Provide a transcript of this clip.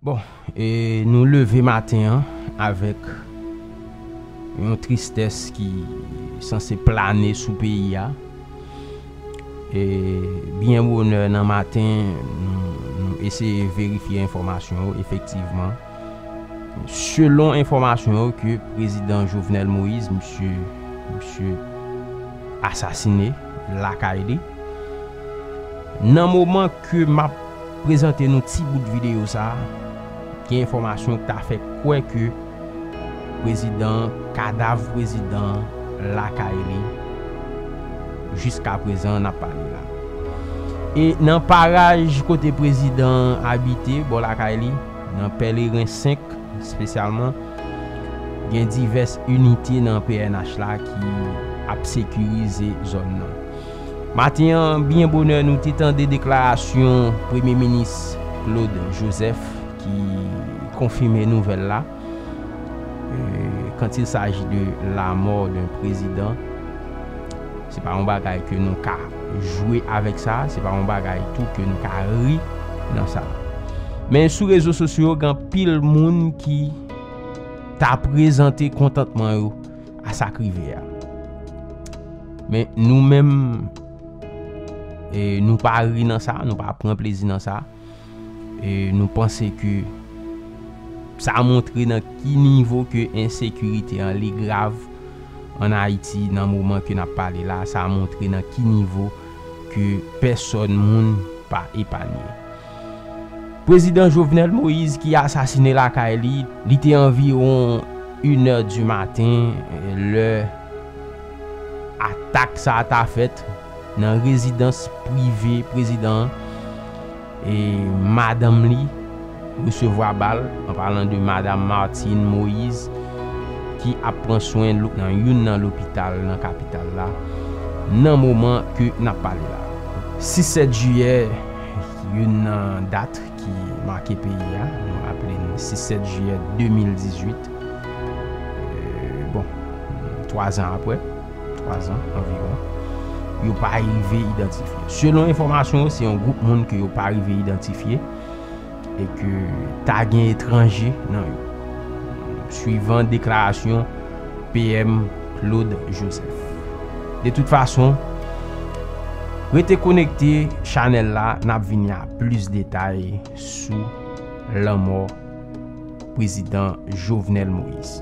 Bon e nou leve maten an avèk yon tristès ki sanse plane sou peyi a. E byen bonè nan maten nou eseye verifye enfòmasyon yo efektivman selon enfòmasyon yo ke prezidan Jovenel Moïse misye misye asasine lakay li nan moman Ke map prezante nou ti bout videyo sa, gen enfòmasyon k ta fè kwè ke prezidan, kadav prezidan lakay li jiskaprezan nap pale la. E nan paraj kote prezidan abite, bò lakay li, nan Pèleren 5 espesyalman, gen divès inite nan pnh la ki ap sekirize zòn nan. Maten an byen bonè nou te tande deklarasyon Premye Minis Claude Joseph ki konfime nouvèl la, quand il s'agit de la mort d'un président se pa yon bagay ke nou ka jwe avèk sa, se pa yon bagay tou ke nou ka ri nan sa. Men sou rezo sosyo gen anpil moun ki ta prezante kontantman yo. a sa k rive a. Men nou menm, nou pa ri nan sa, nou pa pran plezi nan sa. E nou panse ke sa montre nan ki nivo ke ensekirite an li grav an Ayiti nan moman ke n ap pale la. Sa montre nan ki nivo ke pèsòn moun pa epanye. Prezidan Jovenel Moïse ki asasine lakay li, li te anviwon inè di maten lè atak sa a ta fèt nan rezidans prive prezidan an e madanm li resevwa bal, an palan de Madam Martine Moïse ki ap pran swen nan youn nan lopital nan kapital la nan moman ke n ap pale la a. 6 sèt jiyè. Youn nan dat ki make peyi a, nou aple n 6, 7 jiyè 2018, bon, twa zan apre, twa zan anviwon, yo pa rive idantifye. Selon enfòmasyon yo, se yon gwoup moun ke yo pa rive idantifye, e ke ta gen etranje nan yo, swivan deklarasyon PM Claude Joseph. De tout fason, rete konekte chanèl la, n ap vini a plis detay sou lanmò Prezidan Jovenel Moïse.